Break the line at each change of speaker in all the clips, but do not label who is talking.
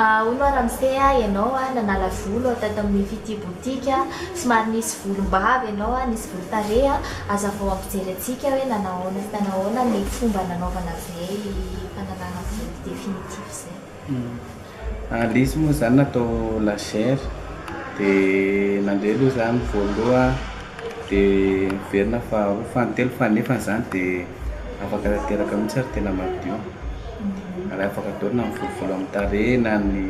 Hono ary mifehy ahy ianao a, nanala volo aho tato amin'io fitia boutique, somary nisy volom-bava ianao a, nisy volon-tarehy a, hazavao ampijery antsika hoe nanao ahoana sy nanao ahoana ny fomba nanaovana izay fanalana volo definitif izay. Hum. Ilay izy moa zany
natao lagère dia nandeha aloha zany voaloha dia niverina faharoa fahatelo fanefany zany dia afaka tanteraka mihitsy ary tena madio ary afaka atao na ny volovolo amin'ny tarehy na ny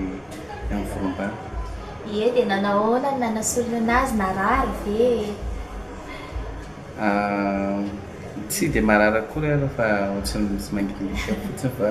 amin'ny volombava. Ie dia
nanao ahoana ny nanasorana azy narary ve e?
Aah, tsy dia marary akory ary fa ohatran'ny misy mangidihidy ao fotsiny fa.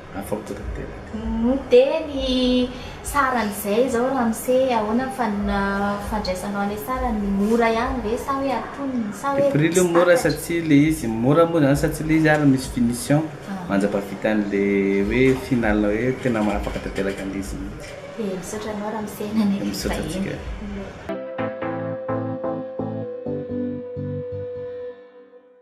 Afapo tanteraka. Dia ny
saran'izay izao ramose ahoana ny fandraisanao ilay sarany? Mora ihany ve sa hoe antonony sa hoe tsy takatro? Le prix aloha mora satsia
le izy mora moa zany satsia le izy ary misy finition mandrapahavita an'le hoe final hoe tena mahafaka tanteraka
an'le izy
mihitsy. Dia misaotra
anao
ramose
nanenty ny
vahiny.